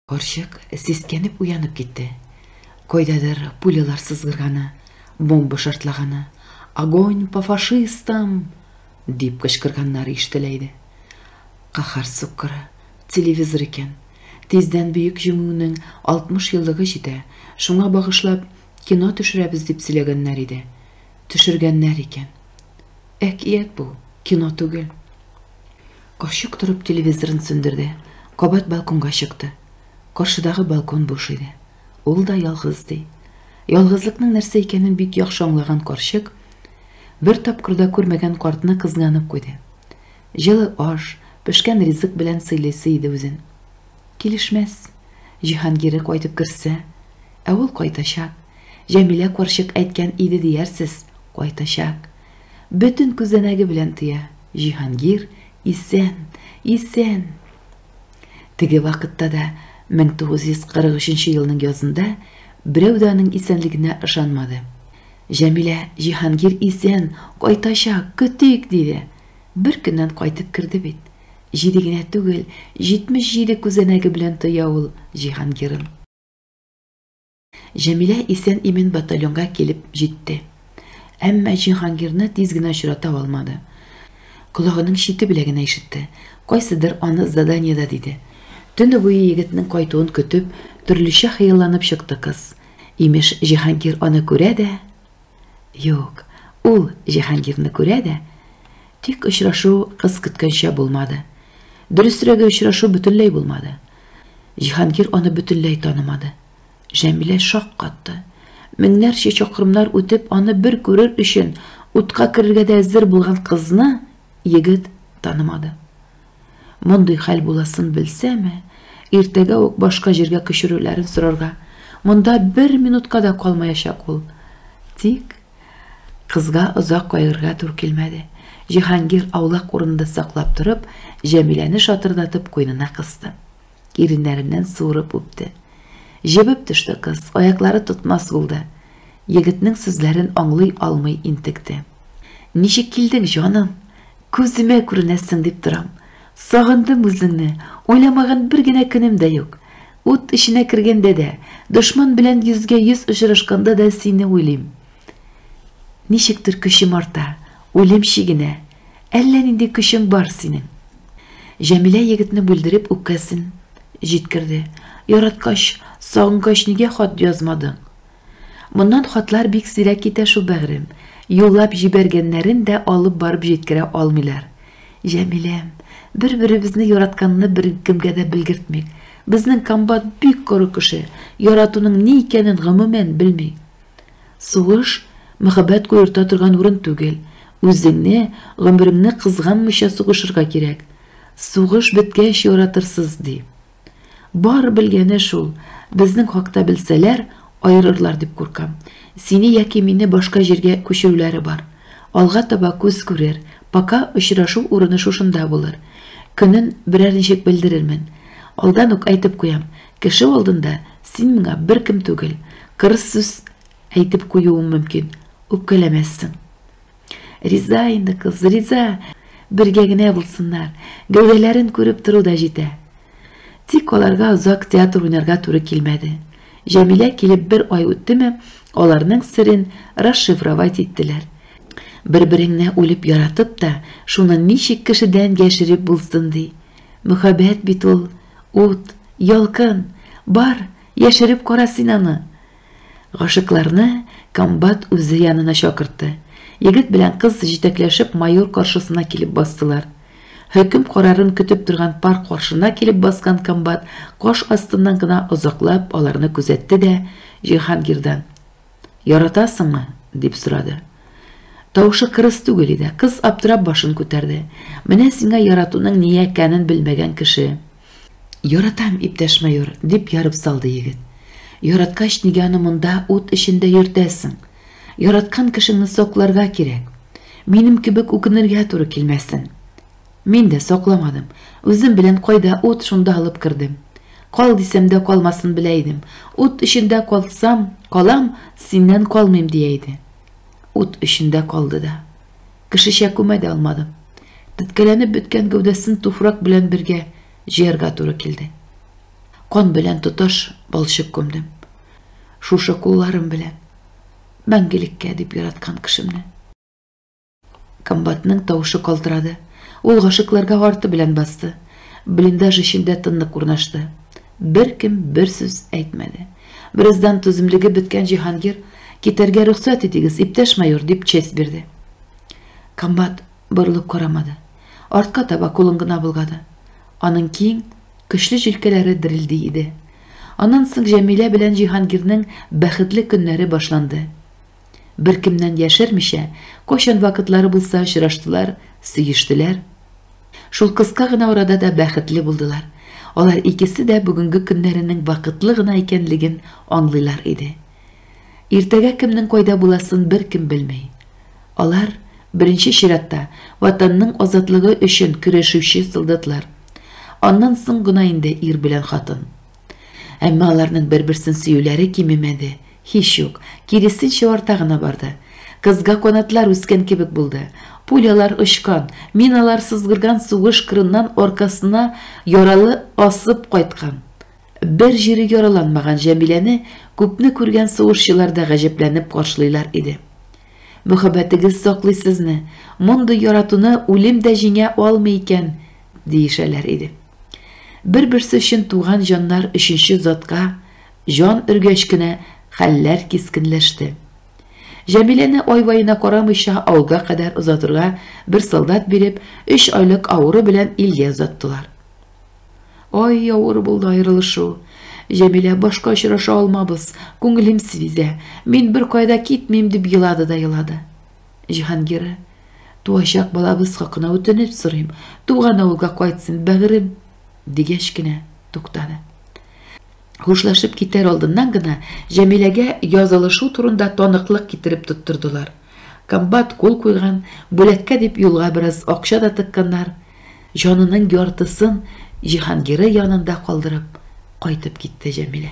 Карчык сискәнеп уянып китте. Кайдадыр пулялар сызгырганы, бомба шартлаганы, огонь по фашистам! дип кычкырганнары ишетелә иде. Каһар суккыры, телевизор икән. Тиздән Бөек Җиңүнең 60 еллыгы җитә, шуңа багышлап кино төшерәбез дип сөйләгәннәр иде. Төшергәннәр икән. Әкият бу, кино түгел. Карчык торып телевизорын сүндерде, кабат балконга чыкты. Каршыдагы балкон буш иде. Ул да ялгыз ди. Ялгызлыкның нәрсә икәнен бик яхшы аңлаган карчык бер тапкыр да күрмәгән картны кызганып куйды. Җылы аш, пешкән ризык белән сыйлыйсы иде үзен. Килешмәс. Җиһангире кайтып керсә, ә ул кайтачак. Җәмилә карчык әйткән иде диярсез, кайтачак. Бөтен күзәнәге белән тоя, Җиһангир исән, исән! Теге вакытта да, 1943 елның язында, берәү дә аның исәнлегенә ышанмады. Җәмилә, Җиһангир исән, кайтачак, көтик! диде. Бер көннән кайтып керде бит. Җиде генә түгел, җитмеш җиде күзәнәге белән тоя ул Җиһангирын. Җәмилә исән-имин батальонга килеп җитте. Әмма Җиһангирны тиз генә очрата алмады. Колагының чите белән генә ишетте, кайсыдыр аны заданиедә диде. Төне буе егетнең кайтуын көтеп, төрлечә хыялланып чыкты кыз. Имеш, Җиһангир аны күрә дә, Юк, ул Җиһангирны күрә дә, тик очрашу кыз көткәнчә булмады. Дөресрәге, очрашу бөтенләй булмады. Җиһангир аны бөтенләй танымады. Җәмилә шаккатты. Меңнәрчә чакрымнар үтеп, аны бер күрер өчен утка керергә дә әзер булган кызны егет танымады. Мондый хәл буласын белсәме, иртәгә үк башка җиргә күчерүләрен сорарга, монда бер минутка да калмаячак ул. Тик кызга озак кайгырга тур килмәде. Җиһангир аулак урынында саклап торып, Җәмиләне шатырдатып куенына кысты. Иреннәреннән суырып үпте. Җебеп төште кыз, аяклары тотмас булды. Егетнең сүзләрен аңлый алмый интекте. Ничек килдең, җаным? Күземә күренәсең дип торам. Сагындым үзеңне, уйламаган бер генә көнем дә юк. Ут эченә кергәндә дә, дошман белән йөзгә-йөз очрашканда да сине уйлыйм. Ничектер көчем арта, үлем чигенә. Әллә нинди көчең бар синең. Җәмилә егетне бүлдереп үпкәсен җиткерде. Яраткач, сагынгач нигә хат язмадың? Моннан хатлар бик сирәк китә шул, бәгърем. Юллап җибәргәннәрен дә алып барып җиткерә алмыйлар. Җәмиләм, бер-беребезне яратканны беркемгә дә белгертмик. Безнең комбат бик коры кеше, яратуның ни икәнен гомумән белми. Сугыш, мәхәббәт куерта торган урын түгел. Үзеңне, гомереңне кызганмыйча сугышырга кирәк. Сугыш беткәч яратырсыз, ди. Бары белгәне шул, безнең хакта белсәләр, аерырлар дип куркам. Сине яки мине башка җиргә күчерүләре бар. Алга таба күз күрер, пока очрашу урыны шушында булыр. Көнен берәр ничек белдерермен. Алдан ук әйтеп куям, кеше алдында син миңа беркем түгел. Кырыс сүз әйтеп куюым мөмкин. Үпкәләмәссең. Риза инде кыз, риза. Бергә генә булсыннар. Гәүдәләрен күреп тору да җитә. Тик аларга озак театр уйнарга туры килмәде. Җәмилә килеп бер ай үттеме, аларның серен расшифровать иттеләр. Бер-береңне үлеп яратып та, шуны ничек кешедән яшереп булсын ди? Мөхәббәт бит ул, ут, ялкын. Бар, яшереп кара син аны. Гашыйкларны комбат үзе янына чакыртты. Егет белән кыз җитәкләшеп майор каршысына килеп бастылар. Хөкем карарын көтеп торган пар каршына килеп баскан комбат каш астыннан гына озаклап аларны күзәтте дә Җиһангирдан, Яратасыңмы? дип сорады. Тавышы кырыс түгел иде. Кыз аптырап башын күтәрде. Менә сиңа яратуның ни икәнен белмәгән кеше. Яратам, иптәш майор, дип ярып салды егет. Яраткач, нигә аны монда ут эчендә йөртәсең? Яраткан кешеңне сакларга кирәк. Минем кебек үкенергә туры килмәсен. Мин дә сакламадым. Үзем белән кайда ут, шунда алып кердем. Кал дисәм дә калмасын белә идем. Ут эчендә калсам, калам, синнән калмыйм, дия иде. Ут эчендә калды да. Кешечә күмә дә алмадым. Теткәләнеп беткән гәүдәсен туфрак белән бергә җыярга туры килде. Кан белән тоташ балчык күмдем. Шушы кулларым белән. Мәңгелеккә дип яраткан кешемне. Комбатның тавышы калтырады. Ул гашыкларга арты белән басты. Блиндаж эчендә тынлык урнашты. Беркем бер сүз әйтмәде. Бераздан түземлеге беткән Җиһангир, Китәргә рөхсәт итегез, иптәш майор, дип честь бирде. Комбат борылып карамады. Артка таба кулын гына болгады. Аның киң, көчле җилкәләре дерелди иде. Аннан соң Җәмилә белән Җиһангирнең бәхетле көннәре башланды. Беркемнән яшермичә, кайчан вакытлары булса очраштылар, сөештеләр. Шул кыска гына арада да бәхетле булдылар. Алар икесе дә бүгенге көннәренең вакытлы гына икәнлеген аңлыйлар иде. Иртәгә кемнең кайда буласын беркем белми. Алар, беренче чиратта, Ватанның азатлыгы өчен көрәшүче солдатлар. Аннан соң гына инде ир белән хатын. Әмма аларның бер-берсен сөюләре кимемәде, һич юк, киресенчә арта гына барды. Кызга канатлар үскән кебек булды. Пулялар очкан, миналар сызгырган сугыш кырыннан аркасына яралы асып кайткан, бер җире яраланмаган Җәмиләне күпне күргән сугышчылар да гаҗәпләнеп каршылыйлар иде. Мөхәббәтегез саклый сезне, мондый яратуны үлем дә җиңә алмый икән, диешәләр иде. Бер-берсе өчен туган җаннар өченче затка җан өргәч кенә хәлләр кискенләште. Җәмиләне ай-ваена карамыйча авылга кадәр озатырга бер солдат биреп, өч айлык авыру белән илгә озаттылар. Ай, авыр булды аерылышу. Җәмилә башка очраша алмабыз, күңелем сизә. Мин бер кайда китмим, дип елады да елады. Җиһангирә, туачак балабыз хакына үтенеп сорыйм, туган авылга кайтсын, бәгырем, дигәч кенә туктады. Хушлашып китәр алдыннан гына Җәмиләгә язылышу турында таныклык китереп тоттырдылар. Комбат кул куйган, бүләккә дип юлга бераз акча да тыкканнар. Җанының яртысын Җиһангиры янында калдырып, кайтып китте Җәмилә.